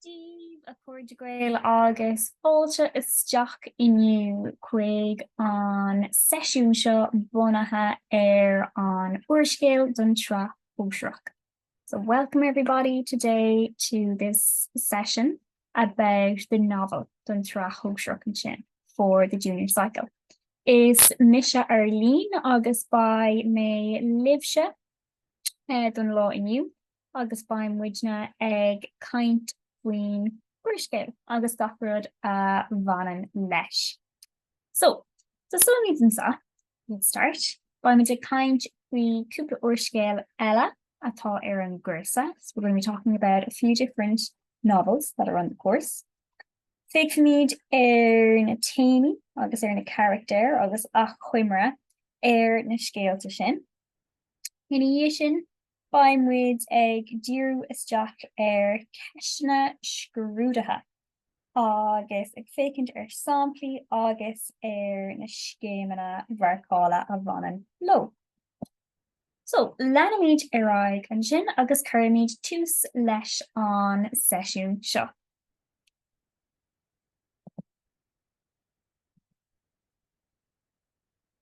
Daoibh a chairde Gael agus fáilte isteach inniu chuig an seisiún seo bunaithe ar an úrscéal don tSraith Shóisearach. So welcome everybody today to this session about the novel don tSraith Shóisearach ansin for the junior cycle. Is mise Arlene agus beidh mé libhse don lá inniu agus beidh muidne ag caint faoin úrscéal agus gach rud a bhaineann leis. So, tosóimid anseo, let's start, beidh muid ag caint faoi cúpla úrscéal eile atá ar an gcúrsa, so we're going to be talking about a few different novels that are on the course. Féachfaimid ar na téamaí agus ar na carachtair agus achoimre ar na scéalta sin. Ina dhiaidh sin, beidh muid ag díriú isteach ar cheisteanna scrúdaithe agus ag féachaint ar samplaí agus ar na scéimeanna mharcála a bhaineann leo. So, leanfaimid ar aghaidh ansin agus cuirfimid tús leis an seisiún seo.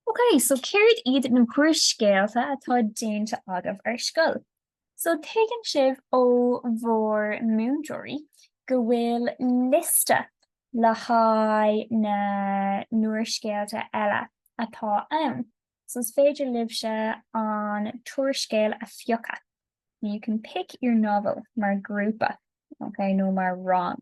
Ok, so céard iad na húrscéalta atá déanta agaibh ar scoil? So tuigeann sibh ó bhur múinteoirí go bhfuil liosta le haghaidh na n-úrscéalta eile atá ann, so is féidir libhse an t-úrscéal a phiocadh, you can pick your novel, mar ghrúpa, ok, nó mar rang.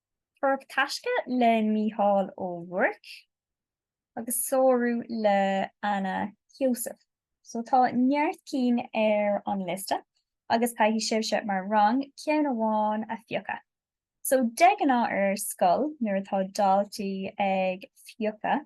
Tóraíocht Taisce le Mícheál Ó Ruairc agus Sárú le Anna Heussaff. So tá neart cinn ar an liosta agus caithfidh sibhse mar rang ceann amháin a phiocadh. So de ghnáth ar scoil nuair atá daltaí ag piocadh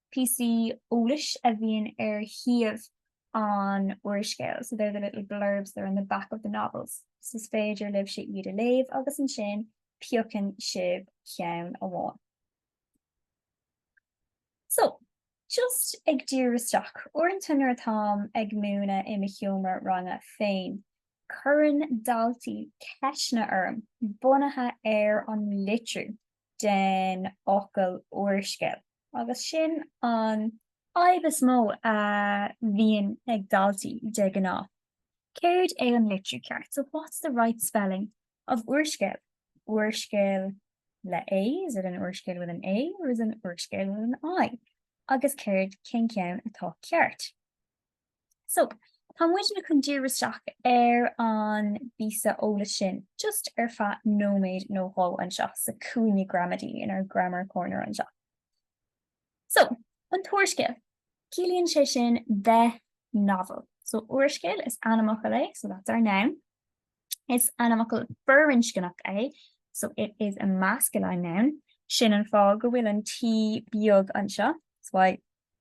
píosaí eolais a bhíonn ar thaobh an úrscéil, so they're the little blurbs that are on the back of the novels, so is féidir libhse iad a léamh agus ansin piocann sibh ceann amháin. So, just ag díriú isteach, uaireanta nuair atáim ag múineadh i mo sheomra ranga féin, cuireann daltaí ceisteanna orm bunaithe ar an litriú. den fhocal úrscéal. Agus sin an fhadhb is mó a bhíonn ag daltaí de ghnáth. Céard é an litriú ceart? So what's the right spelling of úrscéal? Úrscéal le A? Is it an úrscéal with an A or is it an úrscéal with an I? Agus céard, cén ceann atá ceart? So, tá muidne chun díriú isteach ar an bpíosa eolais sin just ar feadh nóiméad nó dhó anseo sa cúinne gramadaí in our grammar corner anseo. So, an t-úrscéal, ciallaíonn sé sin the novel. So, úrscéal is ainmfhocal é, so that's our noun. Is ainmfhocal firinscneach é, so it is a masculine noun. Sin an fáth go bhfuil an t beag anseo, that's why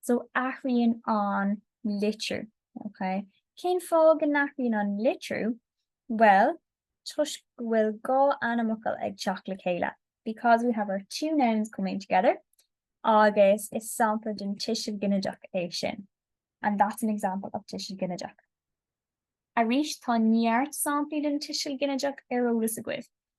So athraíonn an litriú, ok? Cén fáth go n-athraíonn an litriú? Bhuel, toisc go bhfuil dhá ainmfhocal ag teacht le chéile, because we have our two nouns coming together, agus is sampla den tuiseal ginideach é sin, and that's an example of tuiseal ginideach. Arís, tá neart samplaí den tuiseal ginideach ar eolas agaibh,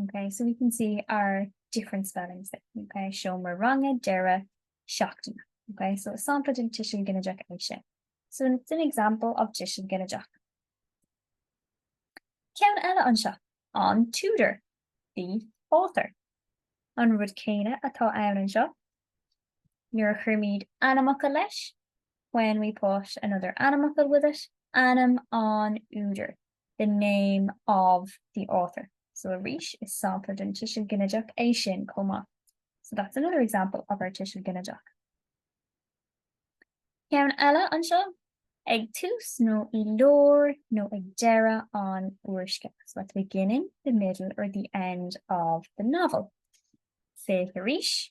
Ok so we can see our different spellings there. Ok seomra ranga deireadh seachtaine. Ok so is sampla den tuiseal ginideach é sin. So it's an example of tuiseal ginideach. Ceann eile anseo, an t-údar, the author. An rud céanna atá ann anseo nuair a chuirimíd ainmfhocal leis when we put another ainmfhocal with it, ainm an údair. the name of the author. So arís is sampla den tuiseal ginideach é sin chomh maith. So that's another example of our tuiseal ginideach. Ceann eile anseo ag tús nó i lár nó ag deireadh an úrscéil. So at the beginning, the middle or the end of the novel. Féach arís.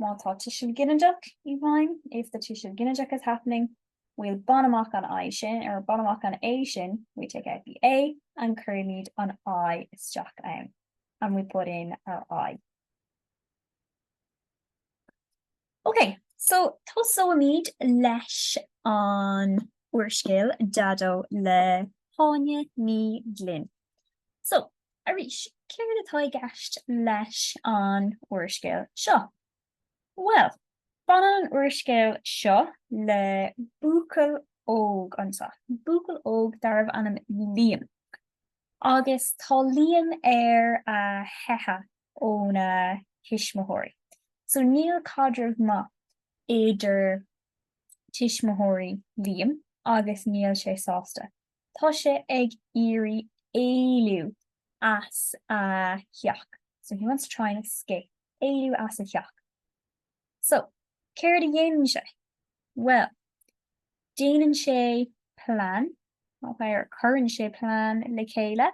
Má tá tuiseal ginideach i bhfeidhm, if the tuiseal ginideach is happening, we'll bain amach an I sin, or bain amach an A sin, we take out the A and cuirimíd an I isteach ann, and we put in our I. Ok, so tosóimíd leis an úrscéal Daideo le hÁine Ní Ghlinn. So. Arís, céard atá i gceist leis an úrscéal seo? Bhuel, baineann an úrscéal seo le buachaill óg anseo, buachaill óg darbh ainm Liam. Agus tá Liam ar a theicheadh óna thuismitheoirí. So níl caidreamh maith idir tuismitheoirí Liam agus níl sé sásta. Tá sé ag iarraidh éalú as a theach. So, he wants to try and escape. Éalú as a theach. So, céard a dhéanann sé? Bhuel, déanann sé plean, nó cuireann sé plean le chéile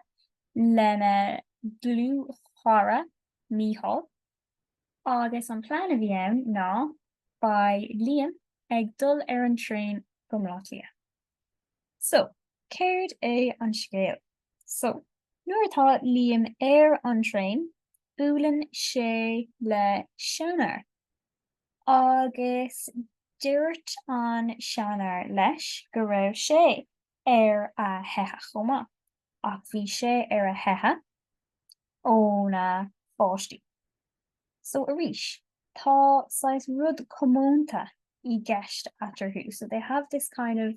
lena dhlúthchara Mícheál agus an plean a bhí ann ná, beidh Liam ag dul ar an traein go mBaile Átha Cliath. So, céard é an scéal? So, nuair atá Liam ar an traein, buaileann sé le seanfhear. Agus dúirt an seanfhear leis go raibh sé ar a theitheadh chomh maith. ach bhí sé ar a theitheadh óna pháistí. So arís, tá saghas rud comónta i gceist eatarthu, so they have this kind of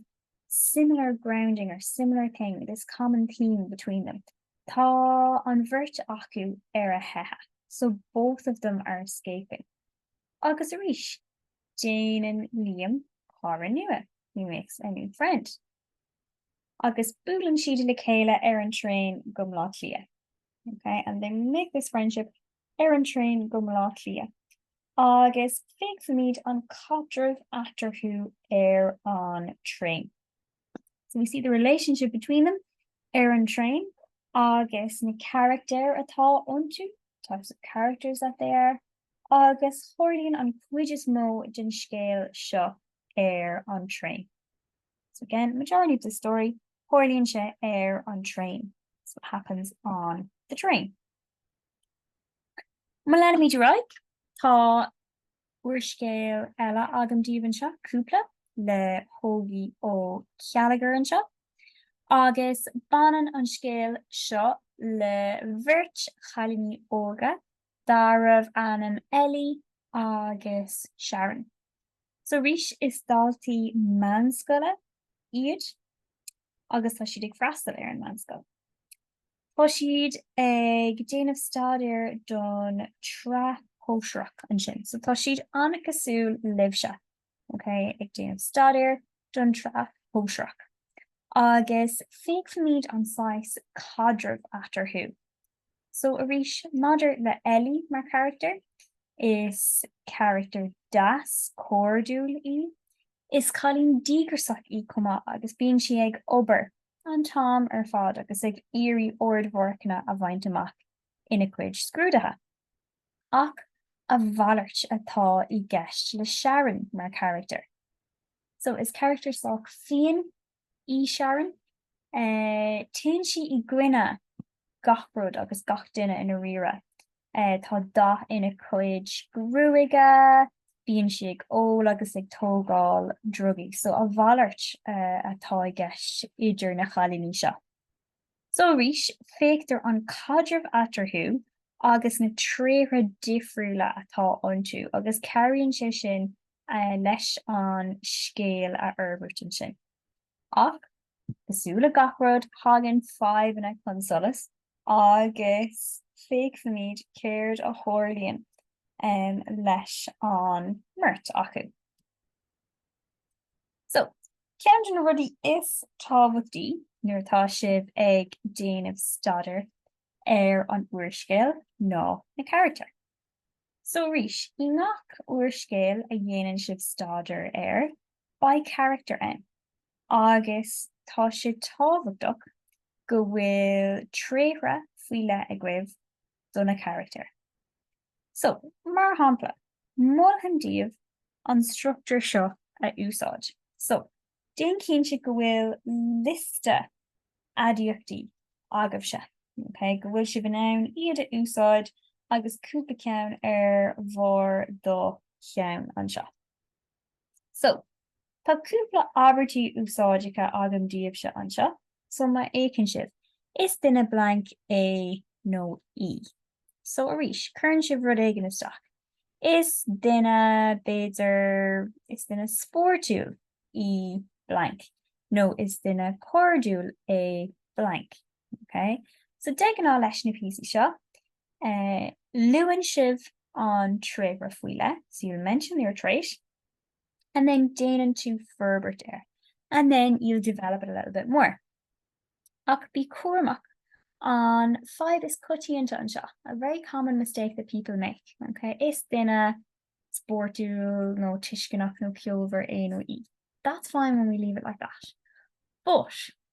similar grounding or similar thing, this common theme between them. Tá an bheirt acu ar a theitheadh, so both of them are escaping. Agus arís, déanann Liam cara nua, he makes a new friend. agus buaileann siad le chéile ar an traein go mBleá Cliath. Ok and they make this friendship ar an traein go mBleá Cliath agus féachfaimid an caidreamh eatarthu ar an traein. So we see the relationship between them ar an traein agus na carachtair atá iontu, types of characters that they are, agus tarlaíonn an chuid is mó den scéal seo ar an traein. So again, majority of the story, tarlaíonn sé ar an traein. That's what happens on the train. Má leanfaimid ar aghaidh, tá úrscéal eile agam díobh anseo, Cúpla, le hÓgie Ó Céilleachair anseo, agus baineann an scéal seo le bheirt chailíní óga darbh ainm Ellie agus Sharon. So arís is daltaí meánscoile iad agus tá siad ag freastal ar an meánscoil. Tá siad ag déanamh staidéir don tsraith shóisearach ansin. So tá siad an-cosúil libhse, okay, ag déanamh staidéir don tsraith shóisearach. Agus féachfaimid an saghas caidrimh eatarthu. So arís, maidir le Ellie mar charachtar, is carachtar deas, cairdiúil í. Is cailín díograsach í chomh maith agus bíonn sí ag obair an t-am ar fad agus ag iarraidh ardmharcanna a bhaint amach ina cuid scrúdaithe. Ach a mhalairt atá i gceist le Sharon mar charachtar. So is carachtar sách fiain í Sharon. Téann sí i gcoinne gach rud agus gach duine i ndáiríre. Tá dath ina cuid gruaige, bíonn sí ag ól agus ag tógáil drugaí, so a mhalairt atá i gceist idir na chailíní seo. So arís, feictear an caidreamh eatarthu agus na tréithe difriúla atá iontu agus cabhraíonn sé sin leis an scéal a fhorbairt ansin. Ach cosúil le gach rud, tagann fadhbanna chun solais agus feicfimid céard a tharlaíonn leis an mbeirt acu. So, ceann de na rudaí is tábhachtaí nuair atá sibh ag déanamh staidéar ar an úrscéal ná na carachtair. So arís, i ngach úrscéal a dhéanann sibh staidéar air, beidh carachtair ann agus tá sé tábhachtach go bhfuil tréithe faoi leith agaibh do na carachtair. So, mar shampla, mholfainn daoibh an struchtúr seo a úsáid. So, déan cinnte go bhfuil liosta aidiachtaí agaibhse, ok, go bhfuil sibh in ann iad a úsáid agus cúpla ceann ar bharr do cheann anseo. So, tá cúpla abairtí úsáideacha agam daoibhse anseo, so má fhéachann sibh, is duine blank é nó í. So arís, cuireann sibh rud éigin isteach. Is duine, b'fhéidir, is duine spórtúil í blank nó is duine cairdiúil é blank Ok. So de ghnáth leis na píosaí seo, eh, luann sibh an tréith faoi leith, so you'll mention your trait, and then déanann tú forbairt air, and then you'll develop it a little bit more. Ach bí cúramach, an fadhb is coitianta anseo, a very common mistake that people make, ok, is duine spórtúil nó tuisceanach nó ceolmhar é nó í. That's fine when we leave it like that.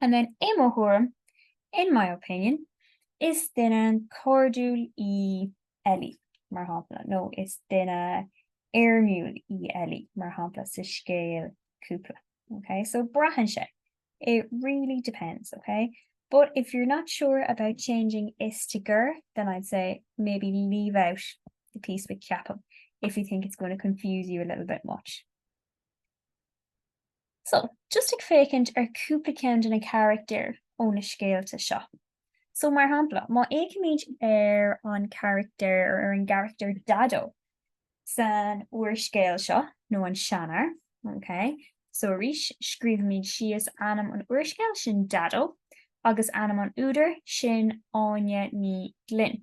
And then i mo thuairim, in my opinion, is duine cairdiúil í Ellie, mar shampla, nó is duine éirmiúil í Ellie, mar shampla, sa scéal Cúpla. Okay, so braitheann sé. It really depends, okay? But if you're not sure about changing is to gur, then I'd say maybe leave out the piece with ceapaim if you think it's going to confuse you a little bit much. So, just ag féachaint ar cúpla ceann de na carachtair ó na scéalta seo. So mar shampla, má fhéachaimid ar an charachtar ar ar an gcarachtar Daideo san úrscéal seo nó an seanfhear, okay? So arís, scríobhaimid síos ainm an úrscéil, sin Daideo, agus ainm an údair, sin Áine Ní Ghlinn.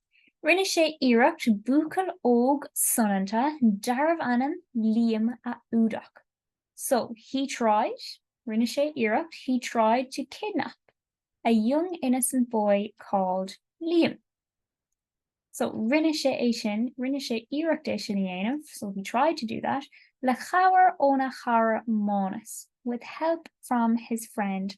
Rinne sé iarracht buachaill óg soineanta darbh ainm Liam a fhuadach. So, he tried, rinne sé iarracht, he tried to kidnap a young innocent boy called Liam. So, rinne sé é sin, rinne sé iarracht é sin a dhéanamh, so he tried to do that, le cabhair óna chara Mánas, with help from his friend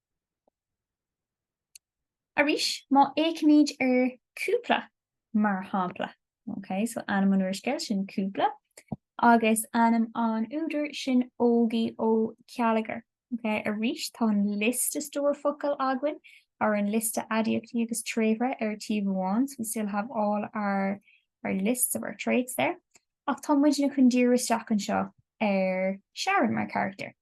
Arís, má fhéachaimíd ar cúpla, mar shampla, ok, so ainm an úrscéil sin Cúpla agus ainm an údair sin Ógie Ó Céilleachair, ok, arís tá an liosta stór focal againn, or an liosta aidiachtaí agus tréithre ar taobh amháin, so we still have all our lists of our traits there, ach tá muidne chun díriú isteach anseo ar Sharon mar charachtar.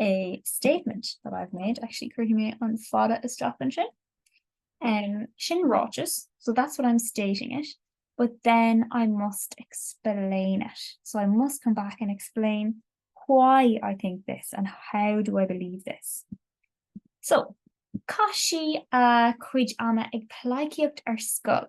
a statement that I've made, actually cuirfidh mé an fada isteach ansin, um sin ráiteas, so that's what I'm stating it, but then I must explain it, so I must come back and explain why I think this and how do I believe this. So, chaith sí a cuid ama ag pleidhcíocht ar scoil.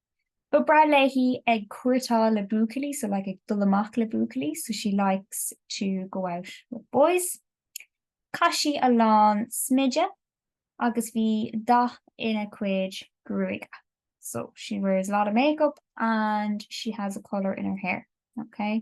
Ba bhreá léi ag cúirtéáil le buachaillí so like ag dul amach le buachaillí so she likes to go out with boys. Chaith sí a lán smideadh agus bhí dath ina cuid gruaige so she wears a lot of makeup and she has a colour in her hair, okay.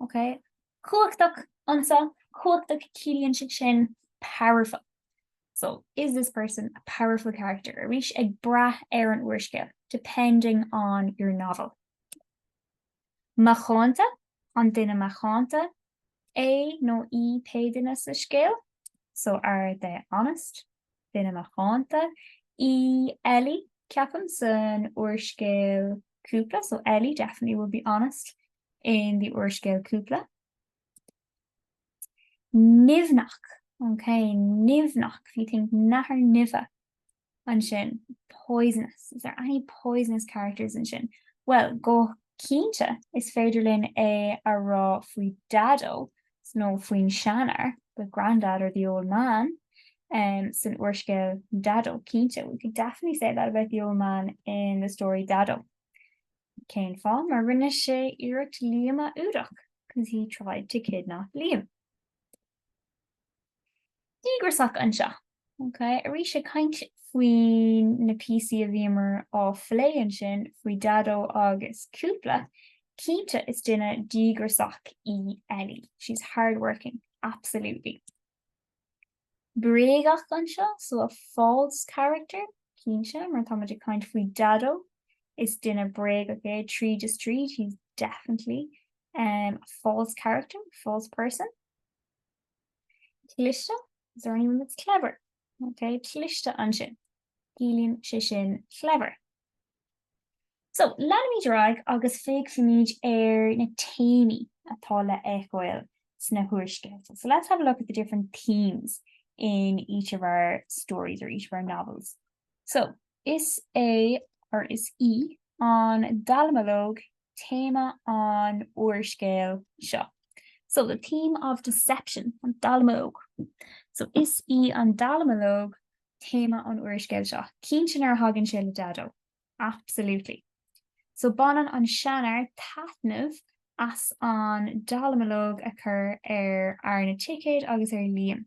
Ok. Cumhachtach anseo, cumhachtach ciallaíonn sé sin powerful. So, is this person a powerful character? Arís ag brath ar an úrscéal, depending on your novel. Macánta, an duine macánta é nó í pé duine sa scéal? So, are they honest? duine macánta í Ellie ceapaim san úrscéal Cúpla so Ellie definitely will be honest in the úrscéal Cúpla. Nimhneach ok nimhneach if you think nathair nimhe ansin poisonous is there any poisonous characters ansin? Bhuel go cinnte is féidir linn é a rá faoi Daideo nó faoin seanfhear, the grandad or the old man, um, san úrscéal Daideo, cinnte, we could definitely say that about the old man in the story Daideo. Cén fáth? Mar rinne sé iarracht Liam a fhuadach, because he tried to kidnap Liam. Díograsach anseo. Ok, arís ag caint faoi na píosaí a bhíomar á phlé ansin faoi Daideo agus Cúpla, cinnte is duine díograsach í Ellie, she's hardworking, absolutely. Bréagach anseo, so a false character, cinnte, má táimid ag caint faoi Daideo, is duine bréagach é tríd is tríd, he's definitely a false character, false person. Cliste, is there anyone that's clever? Ok, cliste ansin. Ciallaíonn sé sin clever. So, leanfaimid ar aghaidh agus féachfaimid ar na téamaí atá le fheiceáil sna húrscéalta. So let's have a look at the different themes in each of our stories or each of our novels. So, is é, or is í, an dallamullóg téama an úrscéil seo. So, the theme of deception, an dallamullóg. So, is í an dallamullóg téama an úrscéil seo. Cinnte nuair a thagann sé le Daideo. Absolutely. So, baineann an seanfhear taitneamh as an dallamullóg a chur ar fhear na dticéad agus ar Liam.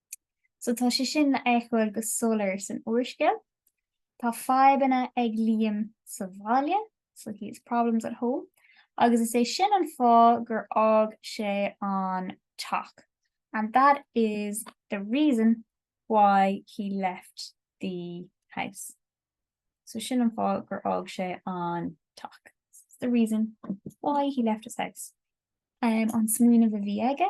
So tá sé sin le feiceáil go soiléir san úrscéal. Tá fadhbanna ag Liam sa bhaile, so he has problems at home, agus is é sin an fáth gur fhág sé an teach. And that is the reason why he left the house. So sin an fáth gur fhág sé an teach. It's the reason why he left his house. Um, an smaoineamh a bhí aige,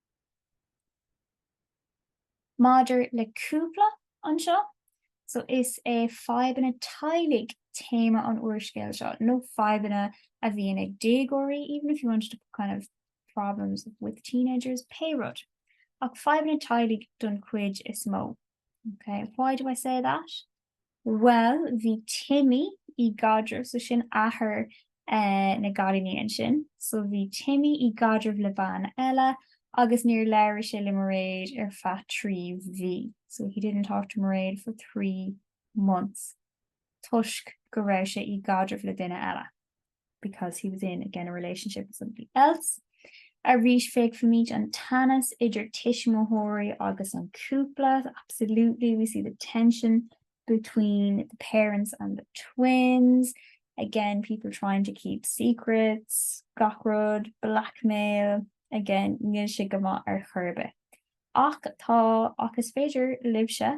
Maidir le cúpla anseo so is é fadhbanna teaghlaigh téama an úrscéil seo, nó fadhbanna a bhíonn ag déagóirí even if you wanted to put kind of problems with teenagers pé rud ach fadhbanna teaghlaigh don chuid is mó. Okay, why do I say that? Bhuel bhí Timmy i gcaidreamh, so sin athair eh na gcailíní ansin, so bhí Timmy i gcaidreamh le bean eile agus níor labhair sé le Mairéad ar feadh trí mhí, so he didn't talk to Mairéad for three months toisc go raibh sé í gcaidreamh le duine eile. because he was in again a relationship with somebody else. Arís feicfimid an teannas idir tuismitheoirí agus an cúpla, absolutely we see the tension between the parents and the twins, again people trying to keep secrets, gach rud, blackmail, again níl sé go maith ar chor ar bith. Ach tá, ach is féidir libhse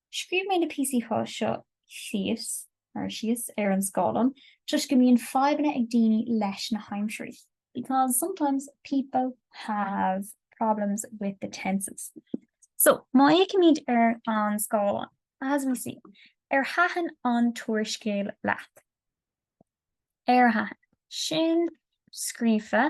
Scríobh mé na píosaí seo thíos, or síos, ar an scáileán toisc go mbíonn fadhbanna ag daoine leis na haimsirí. because sometimes people have problems with the tenses. So, má fhéicimíd ar an scáileán, as we see, ar thaitin an t-úrscéal leat? Ar thaitin? Sin scríofa.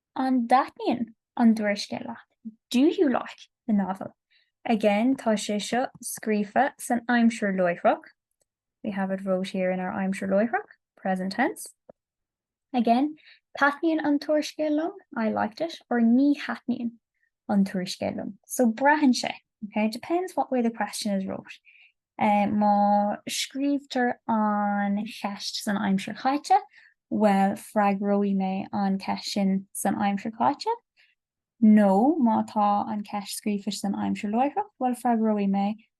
An dtaitníonn an t-úrscéal leat? Do you like the novel? Again, tá sé seo scríofa san aimsir láithreach. We have it wrote here in our aimsir láithreach, present tense. Again, Taitníonn an t-úrscéal liom, I like it. Or Ní thaitníonn. an t-úrscéal liom. So braitheann sé, ok, it depends what way the question is wrote. Má scríobhtar an cheist san aimsir chaite, bhuel, freagróidh mé an ceist sin san aimsir chaite, nó má tá an ceist scríofa san aimsir láithreach, bhuel, freagróidh mé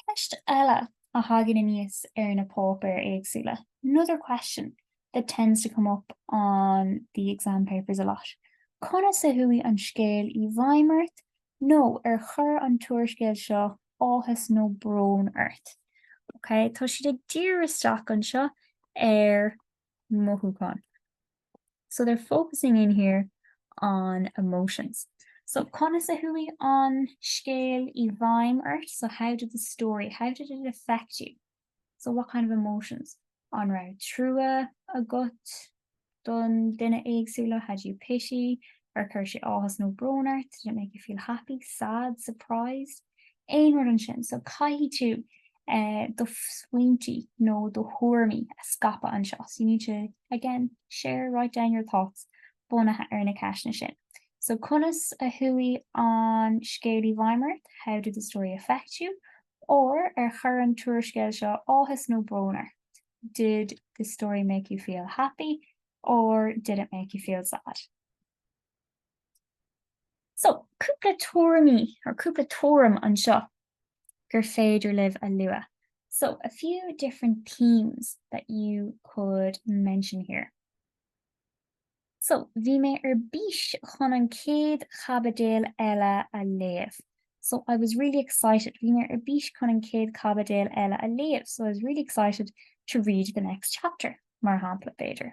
Ceist eile a thagann aníos ar na páipéir éagsúla, another question that tends to come up on the exam papers a lot, conas a chuaigh an scéal i bhfeidhm ort nó ar chuir an t-úrscéal seo áthas nó brón ort? Okay, tá siad ag díriú isteach anseo ar. mothúcháin. So they're focusing in here on emotions. So conas a chuaigh an scéal i bhfeidhm ort? So how did the story, how did it affect you? So what kind of emotions? An raibh trua agat don duine éagsúla? Had you pity? Ar chuir sé áthas nó brón ort? Did it make you feel happy, sad, surprised? Aon rud ansin. So caithfidh tú do smaointí nó do thuairimí a scaipeadh anseo so you need to, again, share, write down your thoughts bunaithe ar na ceisteanna sin. So conas a chuaigh an scéal i bhfeidhm ort? How did the story affect you? Or ar chuir an t-úrscéal seo áthas nó brón ort? Did the story make you feel happy? Or did it make you feel sad? So, cúpla tuairimí, or cúpla tuairim anseo gur féidir libh a lua. So, a few different themes that you could mention here. So, bhí mé ar bís chun an céad chaibidil eile a léamh. So, I was really excited. Bhí mé ar bís chun an céad caibidil eile a léamh. So, I was really excited to read the next chapter, mar shampla, b'fhéidir.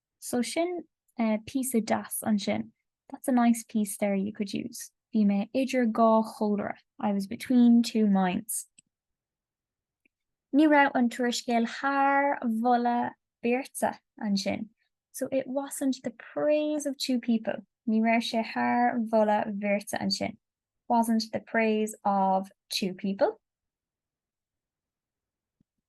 So sin píosa deas ansin, that's a nice piece there you could use. Bhí mé idir dhá chomhairle, I was between two minds. Ní raibh an t-úrscéal thar mholadh beirte ansin, so it wasn't the praise of two people. Ní raibh sé thar mholadh bheirte ansin, wasn't the praise of two people.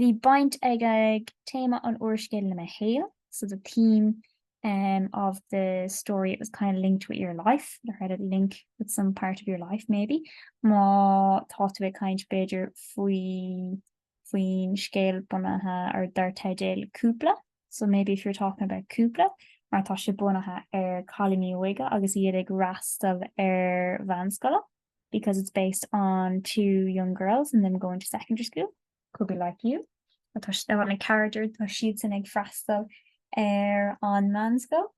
Bhí baint ag ag téama an úrscéil le mo shaol, so the theme em of the story, it was kind of linked with your life, or had a link with some part of your life maybe. Má tá tú ag caint b'fhéidir faoi faoin scéal bunaithe ar dar teideal Cúpla, so maybe if you're talking about Cúpla, mar tá sé bunaithe ar cailíní óige agus iad ag fhreastal ar mheánscoile. because it's based on two young girls and them going to secondary school. Could be like you, tá an character tá siadsan ag freastal ar an meánscoil,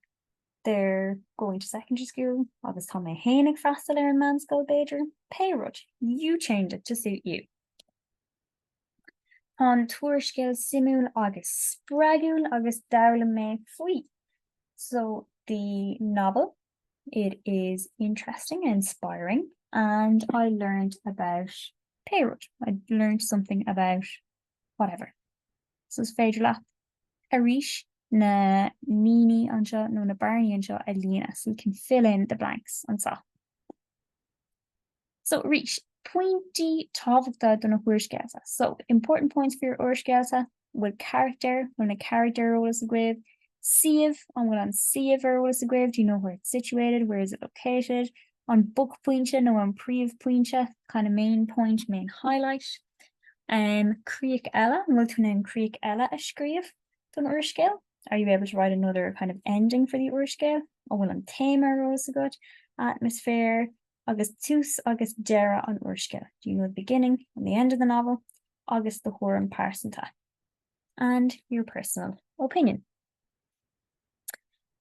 they're going to secondary school, agus tá mé féin ag freastal ar an meánscoil b'fhéidir, pé rud, you change it to suit you. Tá an t-úrscéal suimiúil agus spreagúil agus d'fhoghlaim mé faoi. So the novel It is interesting and inspiring and I learned about pé rud, I learned something about whatever. So is féidir libh arís na línte anseo nó na bearnaí anseo a líonadh so you can fill in the blanks anseo. So arís, pointí tábhachta do na húrscéalta. So, important points for your úrscéalta, bhfuil carachtair, bhfuil na charachtair ar eolas agaibh, suíomh, an bhfuil an suíomh ar eolas agaibh, do you know where it's situated, where is it located, an buaicphointe nó an príomhphointe, kind of main point, main highlight. Um, críoch eile, an bhfuil tú in ann críoch eile a scríobh don úrscéal? are you able to write another kind of ending for the úrscéal? An bhfuil an téama ar eolas agat? Atmosphere agus tús agus deireadh an úrscéil. Do you know the beginning and the end of the novel? Agus do thuairim pearsanta. And your personal opinion.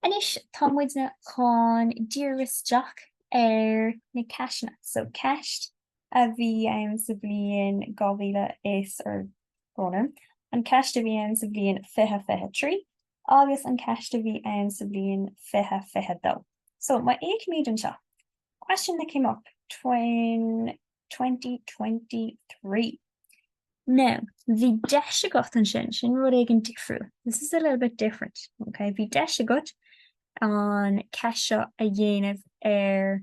Anois tá muidne chun díriú isteach ar na ceisteanna. So ceist a bhí ann sa bhliain 2000 is ar Dónall, An ceist a bhí ann sa bhliain fiche fiche trí agus an ceist a bhí ann sa bhliain fiche fiche dó. So, má fheicimid anseo, question that came up twenty twenty three. Now, bhí deis agat ansin, sin rud éigin difriúil. This is a little bit different, okay? Bhí deis agat an ceist seo a dhéanamh ar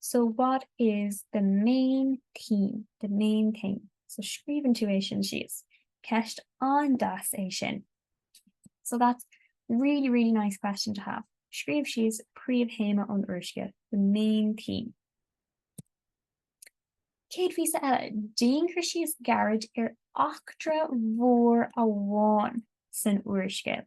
So what is the main theme, the main theme? So scríobhann tú é sin síos. Ceist an-deas é sin. So that's really, really nice question to have. Scríobh síos príomhthéama an úrscéil, the main theme. An chéad phíosa eile, déan cur síos gairid ar eachtra mhór amháin san úrscéal.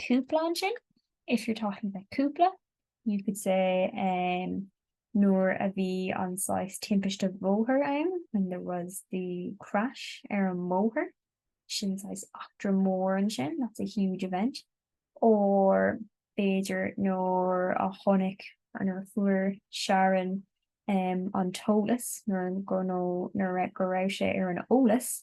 cúpla ansin, if you're talking about cúpla, you could say um, nuair a bhí an saghas timpiste bhóthair ann, when there was the crash ar an mbóthar, sin saghas eachtra mór ansin, that's a huge event, or b'fhéidir nuair a chonaic, or nuair a fuair Sharon um, an t-eolas, nuair, go, no, nuair go raibh sí ar an eolas,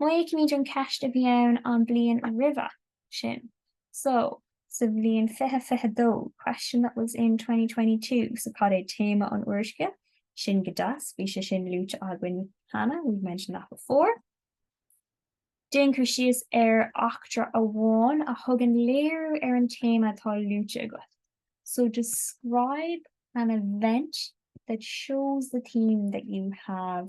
Má fheicimid an ceist a bhí ann an bliain roimhe sin, so, sa bhliain fiche fiche dó, question that was in twenty twenty two, so cad é téama an úrscéil? Sin go deas, bhí sé sin luaite againn cheana, we've mentioned that before. Déan cur síos ar eachtra amháin a thugann léiriú ar an téama atá luaite agat, so describe an event that shows the theme that you have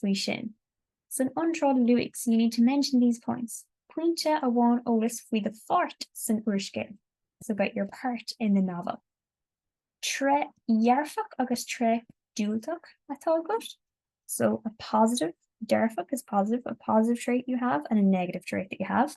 faoi sin. San iontráil luaigh so you need to mention these points pointe amháin eolas faoi do pháirt san úrscéal so about your part in the novel. Tréith dhearfach agus tréith diúltach atá agat so a positive, dearfach is positive, a positive trait you have and a negative trait that you have.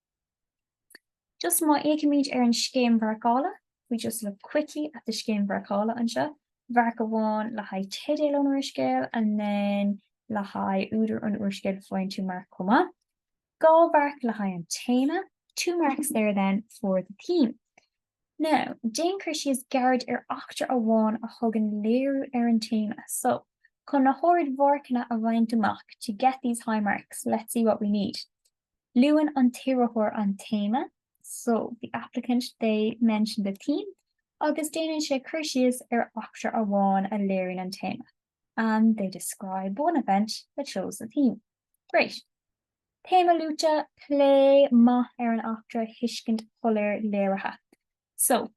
Just má fhéicimid ar an Scéim Mharcála, if we just look quickly at the Scéim Mharcála anseo, marc amháin le haghaidh teideal an úrscéil and then le haghaidh údar an úrscéil faigheann tú marc chomh maith. Dhá mharc le haghaidh an téama, two marks there then for the theme. Now, déan cur síos gairid ar eachtra amháin a thugann léiriú ar an téama. So, chun na hardmharcanna a bhaint amach, to get these high marks, let's see what we need. Luann an t-iarrthóir an téama, so, the applicant, they, mention the theme agus déanann sé cur síos ar eachtra amháin a léiríonn an téama, and they describe one event that shows the theme. Great! Téama luaite, plé maith ar an eachtra, tuiscint shoiléir léirithe. So,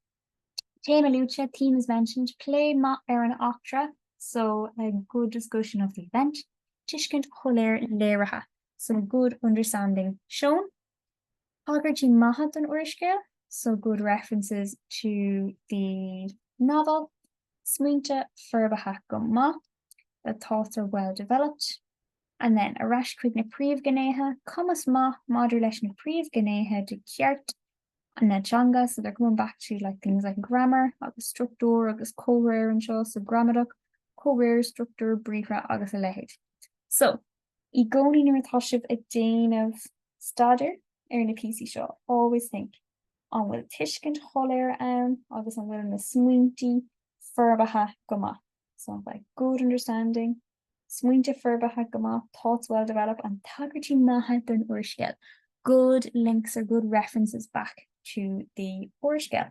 Téama luaite, Theme is mentioned, Plé maith ar an eachtra, so, a good discussion of the event, Tuiscint shoiléir léirithe, so, good understanding shown, Tagairtí maithe don úrscéal, so, good references to the novel, Smaointe forbartha go maith, the thoughts are well developed, And then, ar ais chuig na príomhghnéithe, Cumas maith maidir leis na príomhghnéithe de Cheart, na teanga so they're coming back to like things like grammar agus struchtúr agus comhréir anseo so gramadach, comhréir, struchtúr, briathra agus a leithéid. So, i gcónaí nuair atá sibh ag déanamh staidéir ar na píosaí seo always think, an bhfuil tuiscint shoiléir ann agus an bhfuil na smaointe forbartha go maith so like good understanding, Smaointe forbartha go maith, thoughts well developed and tagairtí maithe don úrscéal, good links or good references back to the úrscéal.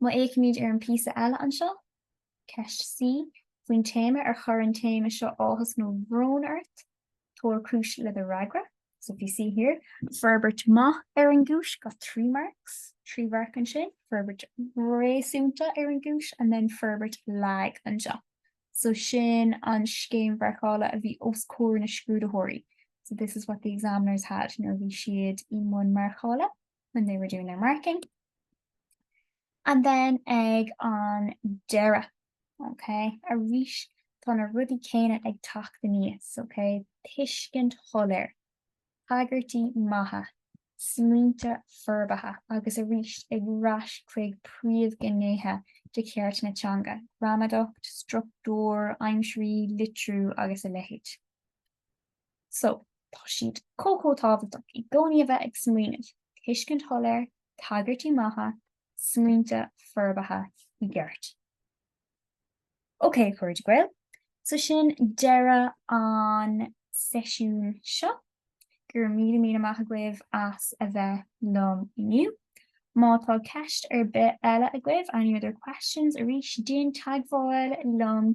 Má fhéicimid ar an bpíosa eile anseo, Ceist C, faoin téama, ar chuir an téama seo áthas nó brón ort? Tabhair cúis le do fhreagra. So if you see here, forbairt mhaith ar an gcúis, got three marks, trí mharc ansin, forbairt réasúnta ar an gcúis, and then forbairt lag anseo. So sin an scéim mharcála a bhí os comhair na scrúdaitheoirí. So this is what the examiners had nuair a bhí siad i mbun marcála. when they were doing their marking. And then ag an deireadh, okay, arís tá na rudaí céanna ag teacht aníos, okay, tuiscint shoiléir, tagairtí maithe, smaointe forbartha agus arís ar ais chuig príomhghnéithe de cheart na teanga, gramadacht, struchtúr, aimsirí, litriú agus a leithéid. So, tá siad chomh chomh tábhachtach i gcónaí a bheith ag smaoineamh, tuiscint shoiléir, tagairtí maithe, smaointe forbartha i gceart. Ok, a chairde Gael, so sin deireadh an seisiún seo. Go raibh míle míle maith agaibh as a bheith liom inniu. Má tá ceist ar bith eile agaibh, any other questions, arís déan teagmháil liom